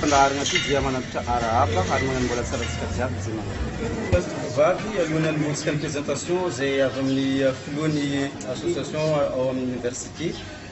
fandaharana ity dia manantitra arahaba ary magnano mbola tsara antsika jiaby izay manao. Place de Vivavy alohan'ny montsika ny présentation izay avy amin'ny filohan'ny association ao amin'ny université.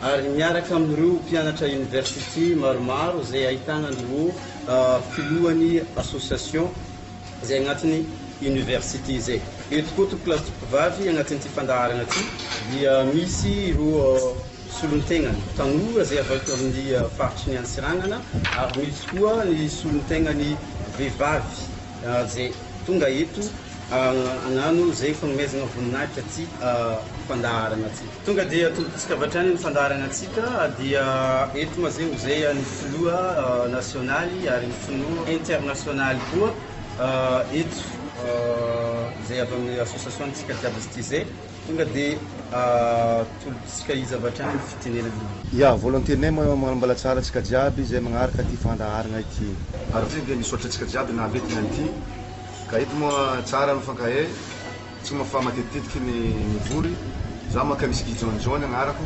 ary miaraka amin'ireo mpianatra university maromaro izay ahitana an'ireo filohan'ny association izay agnatin'ny university izay. Eto koa tompoko lahy sy tompoko vavy agnatin'ity fandaharana ity dia misy ireo solontenan'ny tanora izay avy ato amin'ny faritry ny Antsiranana ary misy koa ny solontenan'ny vehivavy izay tonga eto hagnano izay fagnomezana voninahitra ity fandaharana ity. Tonga dia tobintsika avy hatrany ny fandaharana antsika dia eto mazé mozé an'ny filoha nasionaly ary ny filoha internasionaly koa eto izay avy amin'ny association antsika jiaby izy ity izay tonga dia tolobintsika izy avy hatrany ny fitenenana. Ya, volontenay manambala tsara antsika jiaby izay magnaraka ity fandaharana ity. Ary ity dia misaotra antsika jiaby nampitina an'ity ka eto moa tsara mifankahay. Tsy moa fa matetitetiky ny mivory za maka misy Gijaony Jaony agnarako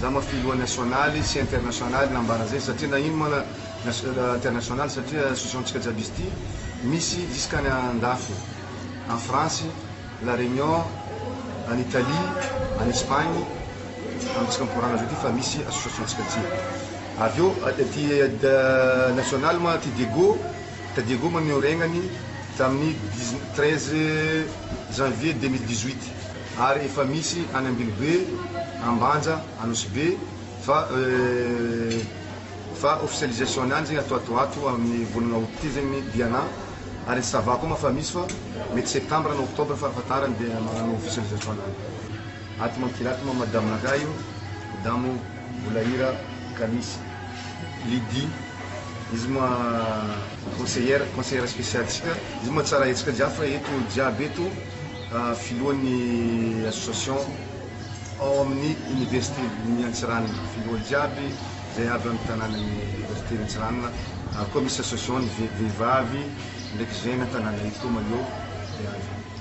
za ma filoha nasionaly sy internasionaly nambara zay satria na ino ma internasionaly satria associationtsika jiaby izy ty misy jiskany andafy en France la Réunion en Italie en Espagne amitsika mikoragna zao ty fa misy associationtsika jiaby avy eo ty nasionaly ma ty Diego Taddy Ego maneho regnany tamin'ny treize janvier deux mille dix-huit ary efa misy any Ambilobe, Ambanja, Anosibe fa fa officialisation-ny any zegny atao ato ato amin'ny volana aout ty zegny ny Diana ary ny Sava koa moa fa misy fa mety septembre na octobre farafahatarany dia magnano officialisation-ny any. Ato mankira ato moa madame-nakahy io, madamo. Mbola hira ka misy. Lydie, izy moa conseillère, conseillère spéciale tsika, izy moa tsara hetsika jiaby fa eto jiaby eto filohan'ny association ao amin'ny université ny Antsiranana, filoha jiaby zay avy amin'ny tananan'ny université Antsiranana ary koa misy association ny vehivavy ndraiky jeune an-tanàna eto maillot dia zay.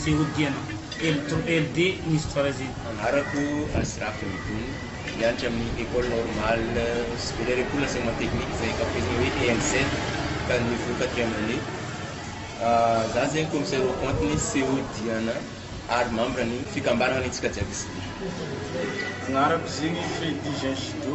sy hodiana LD Inis Troisième. Anarako Asraf Midoun, mianatra amin'ny Ecole Normale Supérieure École d'Enseignement Technique izay ankafizina hoe ENC ka niveau quatrième année. Za zegny Commissaire au compte ny CO Diana ary membre ny fikambanana ny antsika jiaby izy ty. Anarako zegny Freddy Jean Judo.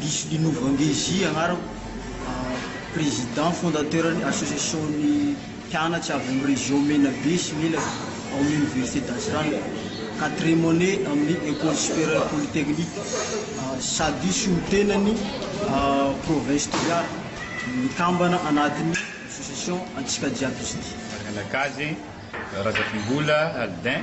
Lisolino Vangezy agnarako, président fondateur ny association ny mpianatry avy amin'ny région Menabe sy Melaky ao amin'ny université d'Antsiranana, quatrième année amin'ny école supérieure polytechnique sady solontenan'ny province Toliara, mikambana anatin'ny association Antsika Jiaby Ity. Ny anak'azy, Razafimbola Aldin.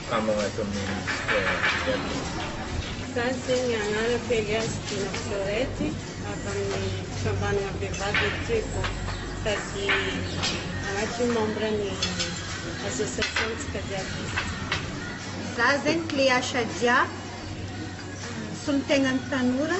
Kamo agnaty ministra jiaby zany. Sazy ny agnara kely azy Dina Florette avy amin'ny fikambanana vehivavy eritrea vao sady agnatin'ny membre ny association ntsika jiaby izy. Za zegny clé à Shadia, solotegnan'ny tanora.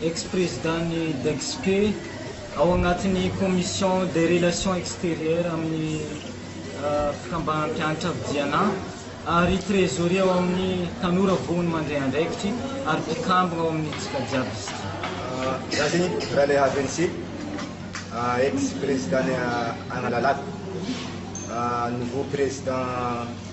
Ex-Président-n'ny Dexpe, ao agnatin'ny Commission des Relations Extérieures amin'ny Fikambaham-pianatra Vidiana, ary Trésorier ao amin'ny Tanora Vohony Mandray Andraikitry ary mpikambagna ao amin'ny Tsika Jiaby izy ity. Zazy Ralehavensy, Ex-Président-n'ny Analalava, Nouveau Président.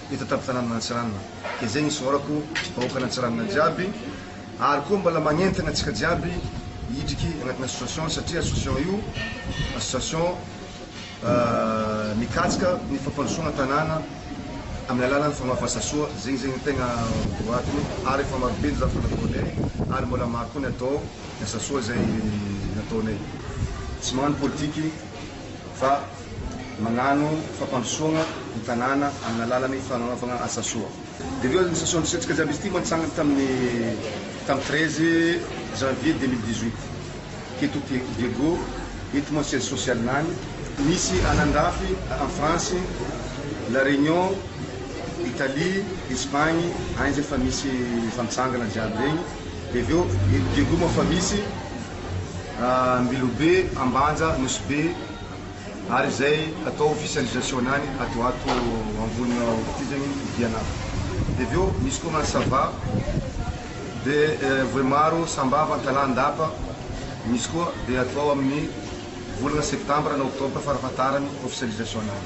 eto an-tampon-tanànan' Antsiranana. Gezegny ny sohorako ry vahoakan' Antsiranana jiaby ary koa mbala magnentana antsika jiaby hidriky agnatin'ny association satria association io association mikatsika ny fampandrosoagna tanàna amin'ny alalan'ny fagnaovana asa soa. Zegny zegny ny tegna boaty ary efa maro be ny zavatra nataonay ary mbala maro koa ny atao ny asa soa izay nataonay. Tsy magnano politiky. fa magnano fampandrosoagna ny tanàna amin'ny alalan'ny fagnanovagna asa soa. Dia avy eo nisasoa nisetrika jiaby izy ity mantsangany tamin'ny tamin'ny treize janvier deux mille dix huit teto Tieko Diego eto moa siège social-n'any misy an'Andrafy en France, La Réunion, Italie, Espagne agny zay efa misy efa mitsangana jiaby regny. Dia avy eo eto Diego moa efa misy. Ambilobe, Ambanja, Nosy-Be ary izay atao Fisandrization any ato ato ambonina ity zegny ny dian'afo de avy eo misy koa ny sava de voaimaro, sambava, antalaha, andapa misy koa de atao amin'ny volana septambra na oktobra farafahatarany ofisialization-ny.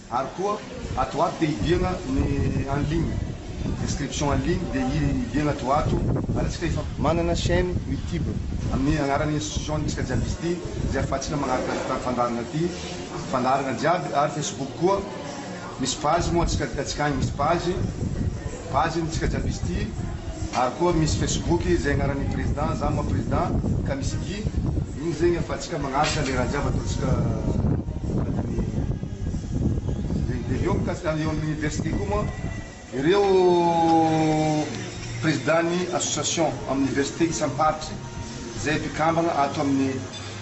Ary koa ato ho ato dia hibiagna ny en ligne, inscription en ligne dia hibiagna ato ho ato, ary antsika efa manana chaine youtube amin'ny agnaran'ny institution antsika jiaby izy ity izay ahafahantsika magnaraka ity fandaharana ity, fandaharana jiaby, ary facebook koa misy page moa antsika, antsika agny misy page. Page iny tsika jiaby izy ity ary koa misy Facebook izay agnaran'ny président za moa président ka misy igi iny zegny afatsika magnaraka le raha jiaby ataontsika agnatin'ny zegny de eo mikasika any eo amin'ny université koa moa ireo président ny association amin'ny université isam-paritry zay mpikambagna ato amin'ny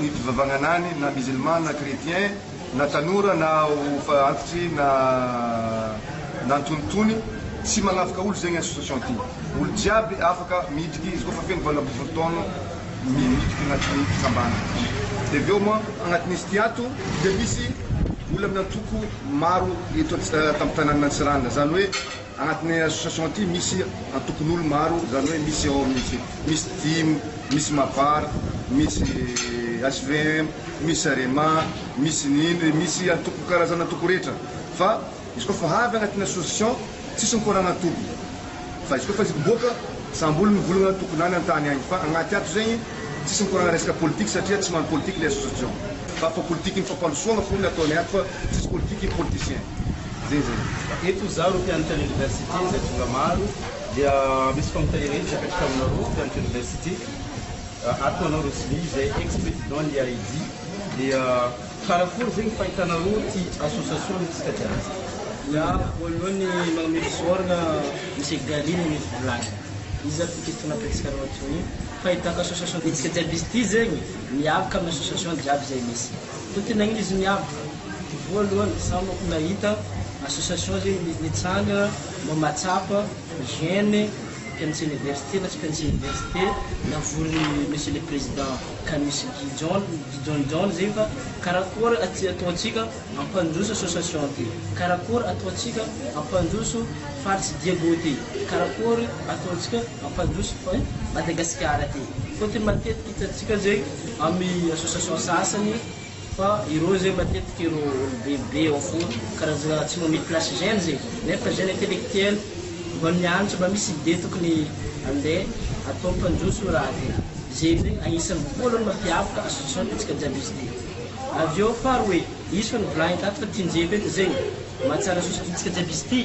ny fivavagnana any na musulman na chretien na tanora na efa antitry na na antonotony tsy magnavaka olo zegny association ty olo jiaby afaka miditry izy koa fa feno valo ambin'ny folo taogno miditry agnatin'ny fitsambana de avy eo moa agnatin'izy ty ato de misy olo amin'ny antoko maro eto tamin'ny tananan'Antsiranana zany hoe Anatin'ny association ity misy antokon'olo maro izany hoe misy ao amin'izy misy dim, misy mabar, misy HVM, misy arema, misy ny indry, misy antoko karazana antoko rehetra fa izy koa fa avy anatin'ny association tsisy mikorana antoko fa izy koa fa izy miboaka samby olo mivolagna antokony any antany any fa agnaty ato zegny Tsisy mikorana resaka politique satria tsy mano politique ny association fa fa politique ny fampandrosoana fona ny ataony ato fa tsisy politique ny politicien zay zany. Eto izaho ireo mpianatra ny University izay tonga maro dia misy fanontaniana hevitra apetrako aminareo mpianatra University ato ho anao Rosmi izay ex président ny AID dia karakory izay ny fahitanareo ity association ny antsika jiaby. Za voalohany manome fisaorana Monsieur Gary ny volana iza ity question napetrakareo atoy Fahitako association bitsika jiaby izy ity zegny miavaka amin'ny association jiaby izay misy. Koa ty nagnino izy miavaka? Ty voalohany za manko nahita association zegny nitsangana mba mahatsapa gene mpianatry université na tsy mpianatry université navorin'i monsieur le président Kanusinky John John John zegny fa karakôry aty ataontsika Ampandroso association ty. Karakory ataontsika ampandroso faritsy Diego ty. Karakory ataontsika ampandroso eh Madagasikara ty. Fotony matetika hitantsika zay amy association sasany fa ireo zay matetika ireo olo be be ao foana karazana tsy nomeny place jeune zay. Nefa jeune intellectuel mba mianatra mba misy idée tokony ande atao ampandroso io raha ty. Zay zay agnisany voalohany mampiavaka association ty tsika jiaby izy ty. Avy eo fary hoe izy fa nivolagny tato fa tian'i Jeff eto zegny mahatsara soa satria antsika jiaby izy ty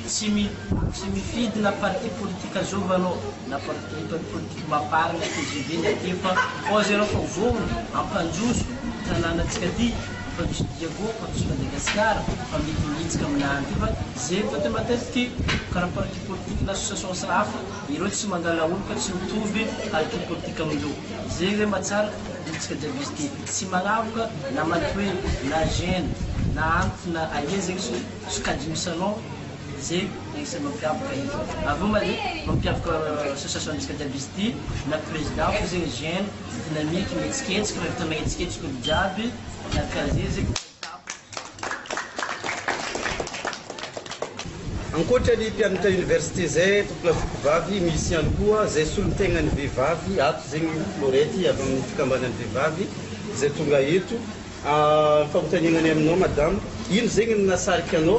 tsy mi tsy mifidy na parti politique azovy anao na parti parti politique mapar na tgv na aty fa pause ianao fa ho vohogno hampanjoso tananantsika ty hampanjoso Diago hampanjoso Madagasikara fa mety ho hitsika aminany ty fa zegny fa te matetiky karaha parti politique na associations hafa ireo tsy mangala olo ka tsy mitovy parti politique amindreo. Zay ve ma tsara hiditra Javis ty? Tsy manavoka na mantsy hoe na gène na antitra na aia zegny so sokajin'io salon zay no isan'ny mampiavaka izy. Avy eo ma le mampiavaka association antsika Javis ty na président fô zegny gène dynamique mihetsiketsika mahavita mahetsiketsika olo jiaby na casier zegny. Ankoatra ny mpianatra université zay tompona fokovavy misy ihany koa zay solontenan'ny vehivavy ato zegny Florette avy amin'ny fikambanan'ny vehivavy zay tonga eto, ny fanontaniana ny aminao madame ino zegny no nahasarika anao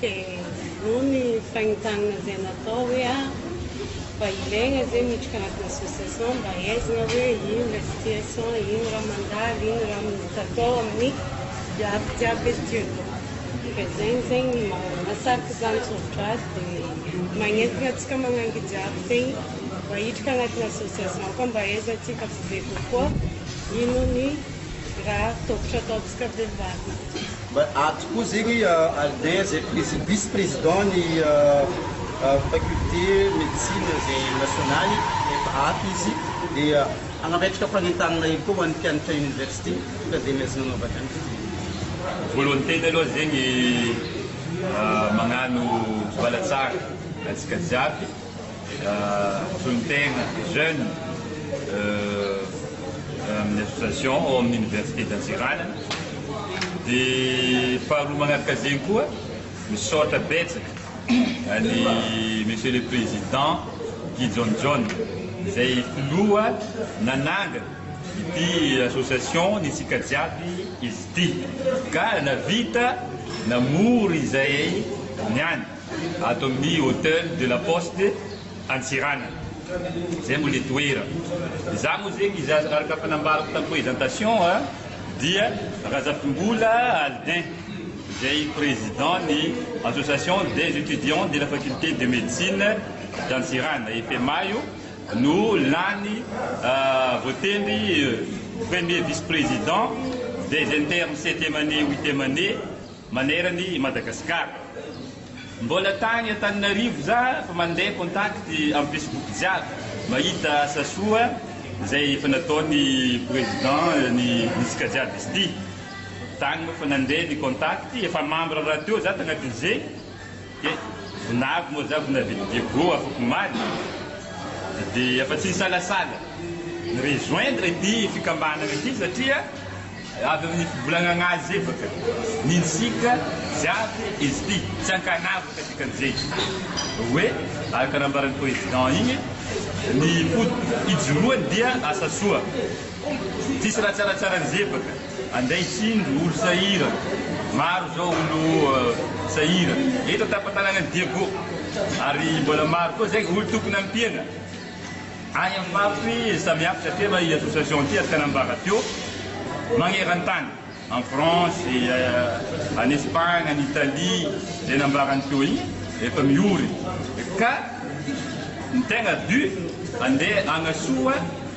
Dia voa ny fanintanana izay natao hoe ah, mba ilaigna zay miditra agnatin'ny association mba ahaizagna hoe ino ilay situation, ino raha mandalo, ino raha mety atao amin'ny iaby jiaby eto io. Dia zegny zegny mahasarika izany tsôtra azy dia magnentagna antsika magnangy jiaby tegny mba hiditra agnatin'ny association koa mba ahaizantsika be be kokoa ino ny raha tôkotro ataontsika. ka dia mba ato. Mba ato koa zegny Albert zay prési- vice président ny faculté médecine zay nasionaly efa ato izy dia hagnametraka fanentanana hely koa ho an'ny mpianatra université ka dia miezagna hanaovana ihany izy dia. Voalohany tena aloha zegny magnano vala tsara antsika jiaby. Toy ny tegna jeune amin'ny association ao amin'ny université d'Antsiranana. Dia faharoa magnaraka zegny koa misaotra betsaka an'i Monsieur le Président Guy John John izay filoha nanangana ity association ny antsika jiaby izy ity ka nahavita namory izay niany. ato amin'ny Hotel de la Poste Antsiranana, izay moa ilay toerana. Izaho moa zegny izy azy araka fa nambarako tam présentation a, dia Razafimbola Aldin, izay président ny Association des Etudiants de la Faculté de Médecine d'Antsiranana, EFEMA, io no lany voatendry premier vice-président des internes septième année, huitième année, maneran' i Madagasikara. Mbola tany Antananarivo za fa mandeha contact am Facebook jiaby mahita asa soa zay efa nataony Président ny hitsika jiaby izy ty. Tany moa fa nandeha ny contact efa membre rahateo za tagnatin'ze. Dia vinavy moa za vinavy diego afakomaly de efa tsy nisalasala ni rejoindre ity fikambanana ity satria avy amin'ny fivolagnagna azy evaka ny ntsika jiaby izy ity tsy ankanavaka dikan'izay oe araka nambaran'ny president igny ny fo ijoroany dia asa soa tsisy raha tsaratsara an'izay baka Andray tsindry olo sahirana. Maro zao olo sahirana. Eto tapatananan'i Diego. Ary mbola maro koa zay olo tokony ampiana. Any amin'ny faritry samihafa satria efa i association ity afaka nambara teo. Magnerantany. En France, any Espagne, any Italie. Zay nambarany teo igny efa miory. Ka ny tegna but andeha agnasoa.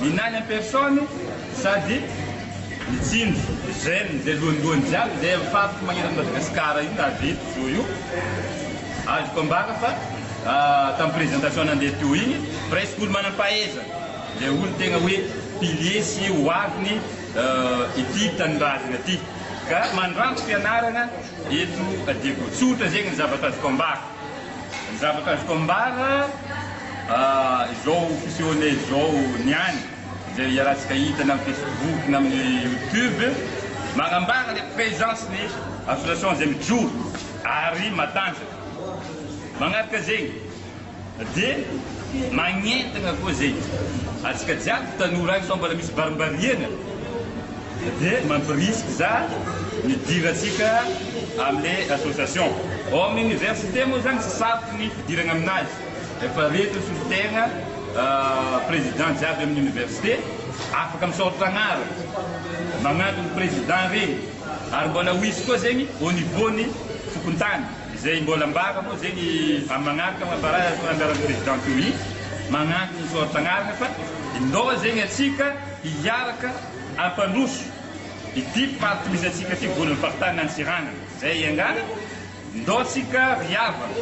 Inany en personne sady mitsinjo gène zay lohandohany jiaby zay am faritra magneran' ny Madagascar io nahavita zo io azoko ambara fa tam présentation nandeha teo igny presque olo manampahaizana le olo tegna hoe pilier sy hoaviny ity tanindrazagna ty ka mandranto fianaragna eto Diego tsotra zegny ny zavatra azoko ambara. Ny zavatra azoko ambara, izao fisehoana izao niany, izay iarahantsika hitany amin'ny Facebook na amin'ny YouTube, manambara ilay présence ny association izay mijoro ary matanjaka. Manaraka zegny dia magnentagna koa zegny antsika jiaby tanora agny sao mbola misy barimbariagna. Dia mampirisika za midira antsika amle association. Ao amin'ny université moa zany tsy sarotra ny fidirana aminazy efa reto solotegna président jiaby amin'ny université afaka misaotra agnarana magnanto ny président regny ary mbola ho isy koa zegny au niveau ny fokontany izay mbola ambara moa zegny amin'ny magnaraka ambara ny anjaran'ny président tohiny magnanto ny misaotra agnarana fa indao zegny atsika hiaraka Ampandroso ity mpitandro tohizantsika ity voan'ny faritany Antsiranana izay iangana, ndao tsika ry havana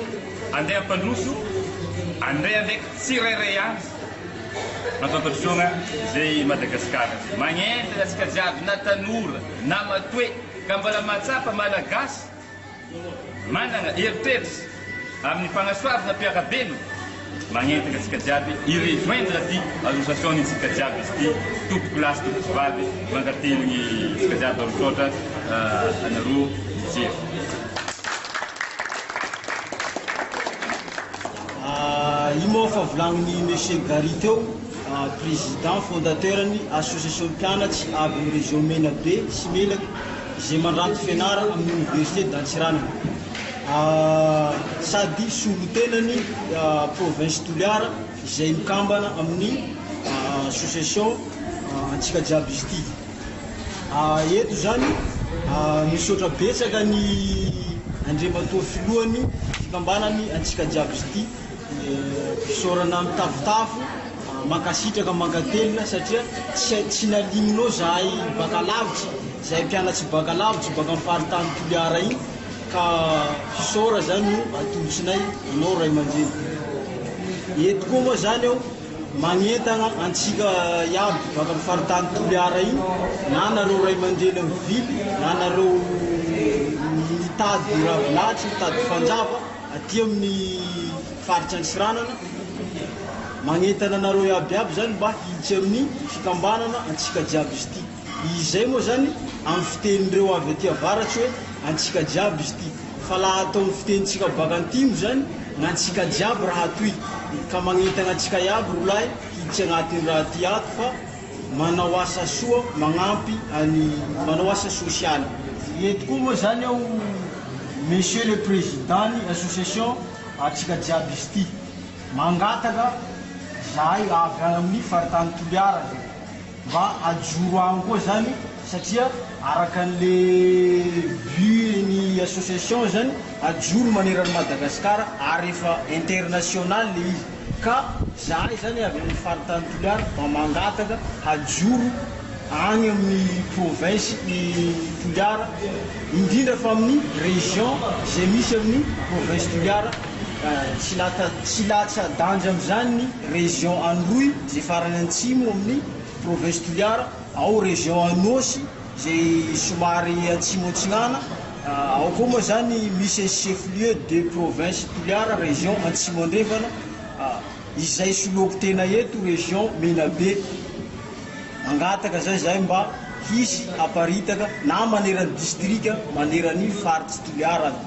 andeha ampandroso andeha andraiky tsirairay avy mampandrosoana izay i Madagasikara izay magnentana antsika jiaby na tanora na matoe ka mbola mahatsapa malagasy Manana eritreritra amin'ny fanasoavana mpiara-belona. Magnentana antsika jiaby hi-rejoindre ty association ntsika jiaby izy ty tompoko lahy sy tompoko vavy mankatelo ny tsika jiaby alo misaotra anareo mijery. Ino moa fa volagnin'i Monsieur Gary teo Président fondateur ny association mpianatsy avy amin'ny région Menabe sy Melaky izay mandranto fianarana amin'ny université d'Antsiranana sady solontenan'ny province Toliara izay mikambana amin'ny association antsika jiaby izy ity. Eto izany misaotra betsaka ny Andriamatoa Filohan'ny fikambanan'ny antsika jiaby izy ity. Fisaorana mitafotafo, mankasitraka mankatelina satria tsy nalignonao zahay baka lavitra, zahay mpianatsy baka lavitra baka am faritany Toliara iny ka fisaora zany no atolotsinay anao ray aman-dreny. Eto koa moa zany aho magnentana antsika iaby baka am faritany Toliara iny na nareo ray aman-dreny mivily na nareo mitady ravinahitra, mitady fanjava, Aty amin'ny faritra Antsiranana, magnentana anareo iaby iaby zany mba hiditra amin'ny fikambanana antsika jiaby izy ity. Izay moa zany amin'ny fitenin'ireo avy aty avaratsy hoe antsika jiaby izy ity, fa laha atao amin'ny fitenintsika baka antimo zany gn'antsika jiaby raha toy ka magnentana antsika iaby rolahy hiditra agnatiny raha ty ato fa Manao asa soa, magnampy any, manao asa sosialy. Eto koa moa zany aho Monsieur le Président ny association antsika jiaby izy ity mangataka zahay avy any amin'ny faritany Toliara zay mba hajoro any koa zany satria araka an'le but ny association zany hajoro maneran'i Madagasikara ary efa international le izy. Ka izahay izany avy amin'ny faritany Toliara mba mangataka hajoro any amin'ny province i Toliara indrindra fa amin'ny région izay misy amin'ny province Toliara tsy lata tsy latsa-danja amin'izany ny région Anoroy izay farany antsimo amin'ny province Toliara ao région Anôsy izay somary atsimo atsinana, ao koa moa izany misy chef lieu de province Toliara région Antsimo Andrefana, izay soloako tena eto région Menabe, mangataka izay izahay mba hisy haparitaka na maneran'ny district maneran'ny faritr'i Toliara any.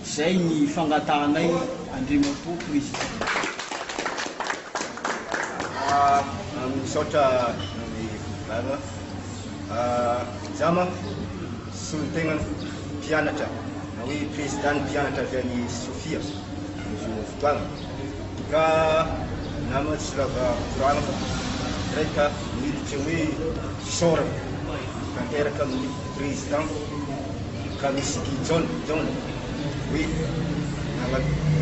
Izay ny fangatahanay Andriamatoa Président. Misaotra ny Fitondrana. Izaho manko solontenan'ny mpianatra na hoe prezidan'ny mpianatra avy any Sofia amin'izao fotoana ka namana tsy lava koragna fa izahay ka miditra hoe fisaorana tanteraka amin'ny prezidanta Kamisy Gijaona. hoe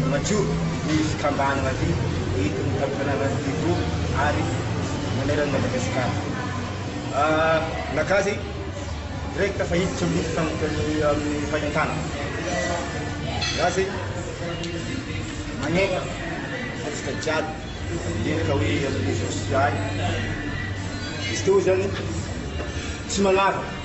manajoro ny fikambanana aty eto tanànan'ity eto ary maneran' i Madagasikara. Naka zay direct fa hiditra amin'ny fahintana. Za zay manefa antsika jiaby mendrika hoe amin'ny Jesosy ihany. Izy teo zany tsy manavaka.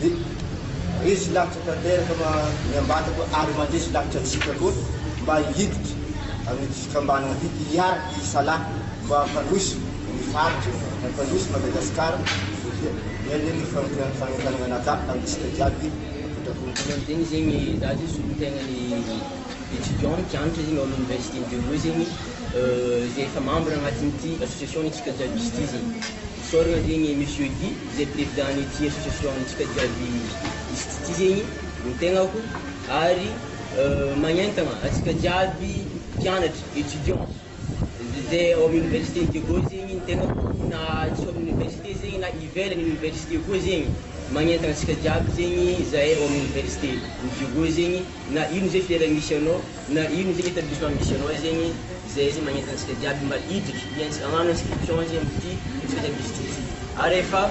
Dia resy lahatra tanteraka ma ny ambadiko ary mandresy lahatra antsika koa mba hiditra amin'ity fikambanana ity hiaraka hisalahy mba hampandroso ny faritra, hampandroso Madagasikara satria ilaina ny fanompoana fanentanana an'Allah amintsika jiaby ankoatra-po. Manao ny tegny zegny za zegny solontegna ny étudiant mpianatra zegny ao amin'ny université Dieuno zegny izay efa membre agnatin'ity association ny antsika jiaby misy ity zegny. Sorry antegna e Monsieur Guy izay president-ny ty association-ntsika jiaby izy ty zegny no tegnako ary magnentagna antsika jiaby mpianatra, étudiants, izay ao amin'ny université-n'i Diego zegny ny tegnako na tsy ao amin'ny université zegny na ivelan'ny université koa zegny magnentagna antsika jiaby zegny zahay ao amin'ny université-n'i Diego zegny. na ino ze filière misy anao, na ino ze établissement misy anao zegny, zay ze magnenta antsika jiaby mba hiditry, hiantsika, hagnano inscription zegny amty service ty, ary efa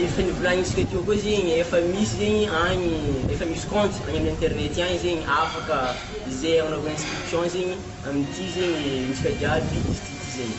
efa nivolagnitsika teo koa zegny, efa misy zegny agny, efa misy compte agny aminy internet agny zegny afaka ze agnanaovana inscription zegny amty zegny antsika jiaby izy ty zegny.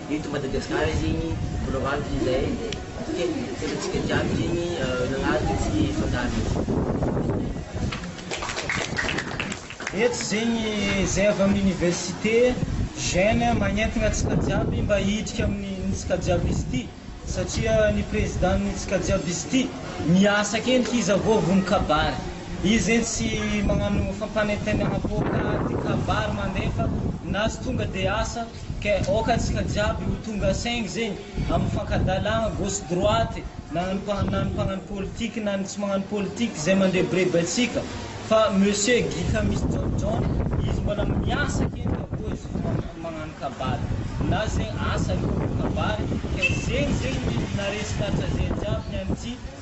Eto Madagasikara zegny mbola hoavy izay satria antsika jiaby zegny nagnaraka tsy fangarony io. Eto zegny zay avy amin'ny université j'aime magnentagna antsika jiaby mba hiditra amin'ny ntsika jiaby izy ty satria ny président ny ntsika jiaby izy ty miasa ake ndry iza vao vono kabary izy zegny tsy magnano fampanentenagnam-poaka de kabary mandefa na tsy tonga de asa Ka aoka antsika jiaby ho tonga saingy zegny amin'ny fankadalagna gauche droite na ny na ny mpagnano politique na ny tsy magnano politique zay mandrebireby antsika fa monsieur Guy fa misy John John izy mbola miasa kegny ka koa izy vao magnano kabary na zegny asa aloha vao kabary ka zegny zegny ny naharesy ny hatrazeha jiaby ny an'ity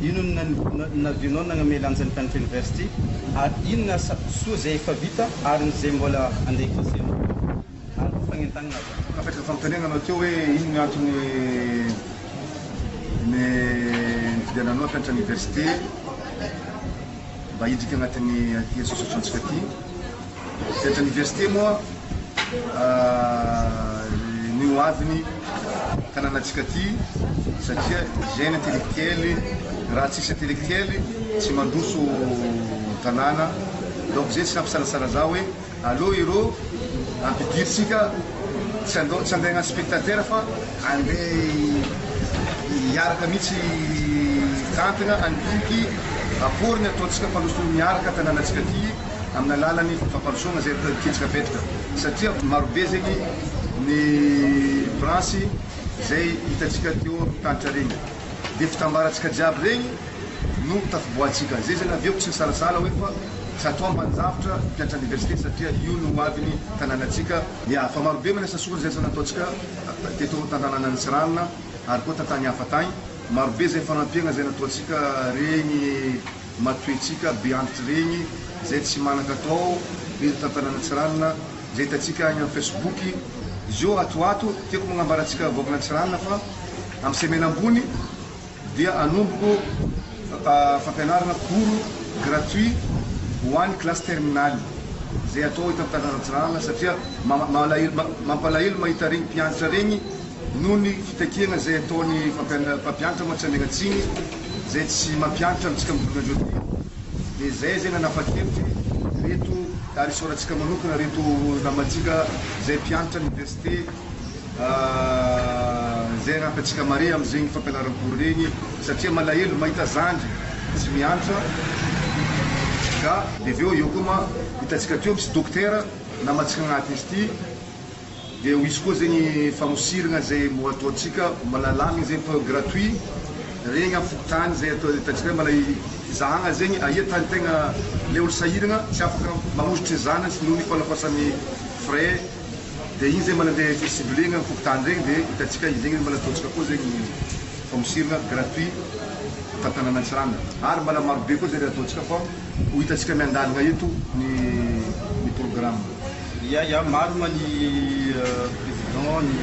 Inona no navianao nagname lanja ny Country University ary inona asa soa izay efa vita ary ny izay mbola andeha hikasihanao koa? Ary fagnentagnina aza. Apetraka fanontaniana anao teo hoe inona ny antony ny nividiananao ny Country University mba hidrika agnatin'ny ity sosotrantsika ity. Eto Université moa ny ho avin'ny tanànantsika ty satria hygiène intellectuelle, raha tsisy intellectuelle tsy mandroso tanàna, donc zay tsy nampisalatsala za hoe aleo ireo ampidiritsika tsy andao tsy andeha hagnano spectateur fa andeha hiaraka mihitsy hitantagna andidiky apport ny ataontsika mpandroso miaraka tanànantsika ty. amin'ny alalan'ny fampandrosoana izay predikitsika fetrika satria marobe zegny ny branche izay hitantsika teo amin'ny tantra regny dia fitambarantsika jiaby regny no tafiboahantsika zay zegny avy eo tsy nisalasala hoe fa zato ambaninjavitra mpiantra aniversite satria io no hoavin'ny tanànantsika ya fa marobe manao asa soa zay zany nataontsika teto tantananan'i Tsiranana ary koa tantany hafa tagny marobe zay fanampiagna zay nataontsika regny. Matoetsika be andry tireny zay tsy manakatao be eto tantanana tsiranana zay hitantsika any am facebook zio ato ato tiako magnambara antsika vahoakana tsiranana fa am semaine ambony dia anomboko fampianarana cours gratuit ho any classe terminale zay atao eto am tantanana tsiranana satria mampalahelo mahita regny mpiantra regny noho ny fitakiana zay ataony mpampiantra moa tsy anegna tsiny Izay tsy mampiantra amintsika mivoaka an'izao dia eo dia izay izay nanapa-kevitra hoe ireto ary isaorantsika manokana ireto namantsika izay mpianatra oniversite izay hanampy antsika mare amin'izegny fampianaram-pory regny satria malahelo mahita zandry tsy miantra ka dia avy eo eo koa ma hitantsika teo misy dokotera namantsika agnaty izy ity Dia ho izy koa zegny famosiragna izay mbo ataontsika mbola lamigny zegny atao gratuit regny am fokontany zay atao hitantsika hoe mbola hizahagna zegny aia tany tegna le olo sahiragna tsy afaka manositry ny zanany noho ny fanakoasan'ny frais dia igny zay mbola andeha fi ciblegna am fokontany regny dia hitantsika izegny mbola ataontsika koa zegny ny famosiragna gratuit eto an-tanàna Antsiranana ary mbola marobe koa zay le ataontsika fa ho hitantsika miandalagna eto ny ny programme. Ia ia marina ny président ny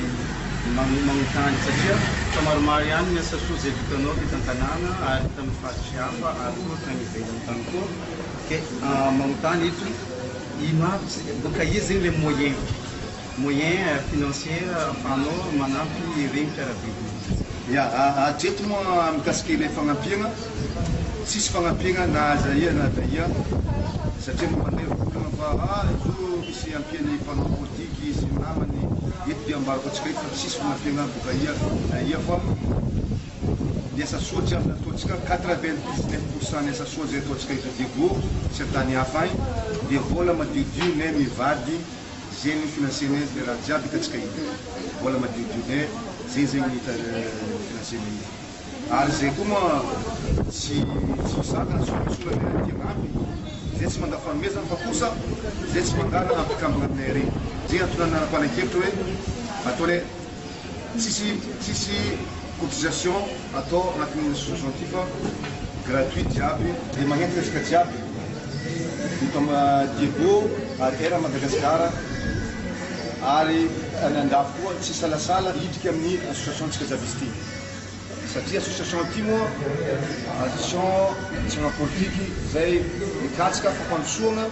manome magnotany satria efa maromaro ihany ny asa soa izay vitanao teto an-tanàna ary tamin'ny faritry hafa ary koa tany ivelany tany koa dia magnotany eto ino aby boka aiza zegny le moyen moyen financier ahafahanao manampy ireny mpiara-belona ireny. Ia hatreto moa mikasika ilay fagnampiana. tsisy fagnampiagna na aiza aia na taia satria mba mandeha olagna fa ah zo misy ampiany mpanao politiky sy namany eto dia ambarako antsika eto fa tsisy fagnampiagna boka aia na aia fa ny asa soa tsy azo nataontsika quatre vingt dix neuf pour cent ny asa soa zay ataontsika eto Diego sy antany hafa agny dia vola madiodio ne mivady zegny no financene le raha jiaby hitantsika eto vola madiodio ne zegny zegny no hita financene eto. ary izay koa moa tsy tsy misakana tsy misola ny aretina dia ampy izay tsy mandà fanomezana fa kosa izay tsy mandà na ampikambana aminay ary izay antony nanapanan-kevitra hoe atao ilay tsisy tsisy cotisation atao anatin'ny association ity fa gratuit jiaby dia magnenty resaka jiaby ny toma diego ary era madagasikara ary any andafy koa tsy salasala hidrika amin'ny association antsika jiaby izy ity satria association ity moa association tsy politique izay mikatsika fampandrosoana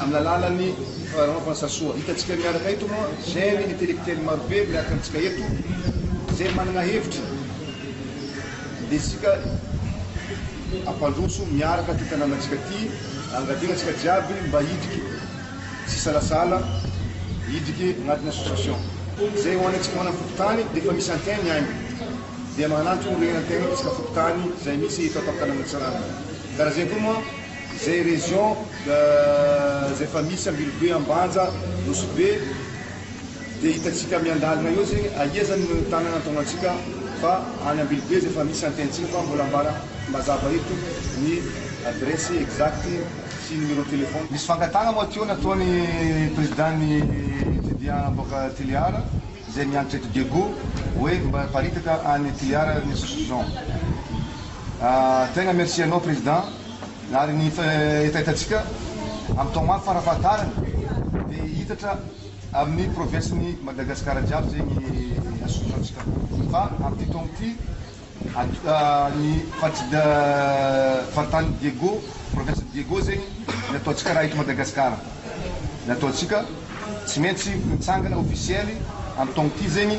amin'ny alalan'ny fanaovana sasoa hitantsika miaraka eto moa jeune intellectuel marobe miaraka amintsika eto izay manana hevitra desika ampandroso miaraka ty tanànantsika ty angadinantsika jiaby mba hidika Tsy salasala hidriky agnatin'ny association. Zay ho an'antsika ho anan'ny fokontany dia efa misy antin ny ainy. Dia magnanty ho rehin' antin isaka fokontany zay misy eto Ampatanana Tsarana. Karaha zay koa moa zay région zay efa misy Ambilobe, Ambanja, Nosy-Be dia hitantsika miandalina eo zegny aia zany no tanana antognantsika fa any Ambilobe zay efa misy antin-tsika fa mbola ambara mazava eto ny adresse exacte. sy numéro téléphone. Misy fangatahana moa aty eo nataony président ny étudiant aboaka Toliar izay miantotra eto Diego hoe mba paritaka any Toliar ny assocition tegna merci anao président ary ny hetahetantsika am tao mafy farafahatarany de hitatra aminy province ny Madagascar jiaby zegny association tsika fa am ty taogno ty Ny faritany Diego, province Diego zegny ny ataontsika raha eto Madagasikara, ny ataontsika tsy maintsy mitsangana officielle am taogno ty zegny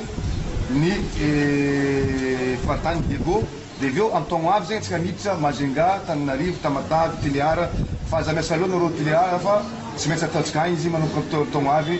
ny faritany Diego de avy eo am taogno avy zegny tsika miditra Majunga, Tananarivo, Tamatave, Tulear fa aza miasa loatra nareo Tulear fa tsy maintsy ataontsika agny izy manomboka am taogno avy.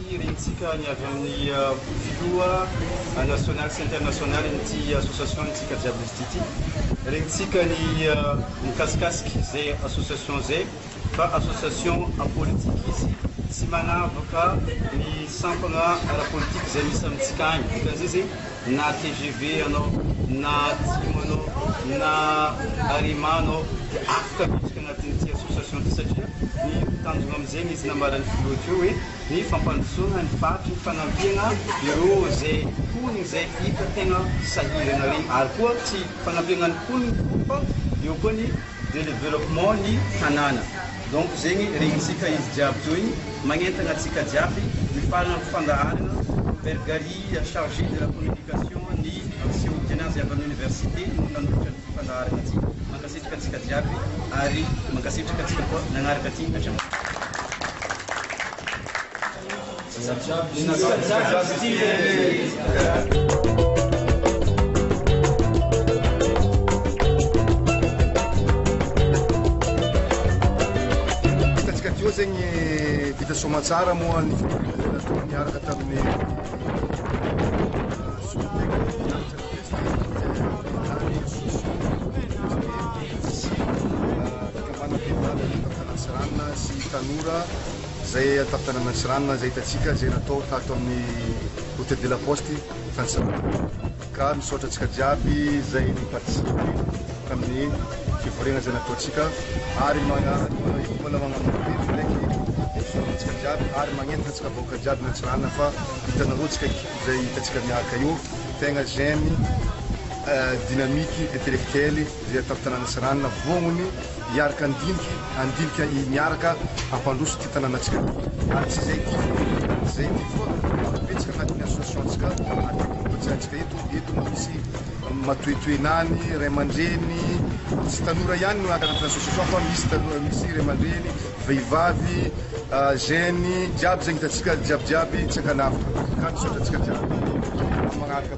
Rentsika ny avy amin'ny filoha nasionaly sy internasionalin'ity association-ntsika jiaby listy ity. Rentsika ny mikasikasika izay association izay fa association politika izy tsy manavaka ny sampana ara-politika izay misy amintsika any. Dikan'izay izay na tgv anao na atsimo anao na arima anao dia afaka miditra anatin'ity association ity satria ny tanjona amin'izegny izy nambaran'ny filoha teo hoe ny fampandrosoana ny faritry ny fanampiana ireo izay mponina izay hita tegna sahirana regny ary koa tsy fanampiana ny mponina fô fa eo koa ny Développement ny tanàna. Donc zegny regnintsika izy jiaby zao igny magnentagna antsika jiaby hifaragna am fandaharagna Robert Garry chargé de la communication ny seho tiana azy avy am université no nanolotra an'ity fandaharagna ty. Mankasitraka antsika jiaby ary mankasitraka antsika koa nagnaraka ty hatramin'izao. Hitantsika teo zegny vita soamantsara moa ny fitoriana izay nataony niaraka tamin'ny solontenan'ny fikambanam-behivavy avy eto Antanantsiranana sy tanora Izay tamin'ny tany Maitsoranona, izay hitantsika, izay natao tato amin'ny Hôtel de la Poste tany Sahamandarina. Ka misaotra antsika jiaby izay ni-participer tamin'ny fivoriana izay nataontsika ary mbola magnamafy ndraiky ny fisaorana antsika jiaby ary magnentana antsika vahoaka jiaby Maitsoranona fa hitanareo antsika équipe izay hitantsika miaraka io tegna jeune, dynamique, intellectuel. dia tantanana sy ranona voangony hiaraka handiniky handilika i miaraka hampandroso ity tananantsika ity ary tsy izay ity foana ary tsy izay ity foana fa topintsika anatin'ny association-tsika ary tokony hotsaintsika eto eto no misy matoetoenany ray aman-dreny tsy tanora ihany no anaty association fa misy tanora misy ray aman-dreny vehivavy jeunes jiaby izay hitantsika jiabijiaby tsy ankanavona ka misaotra antsika jiaby manaraka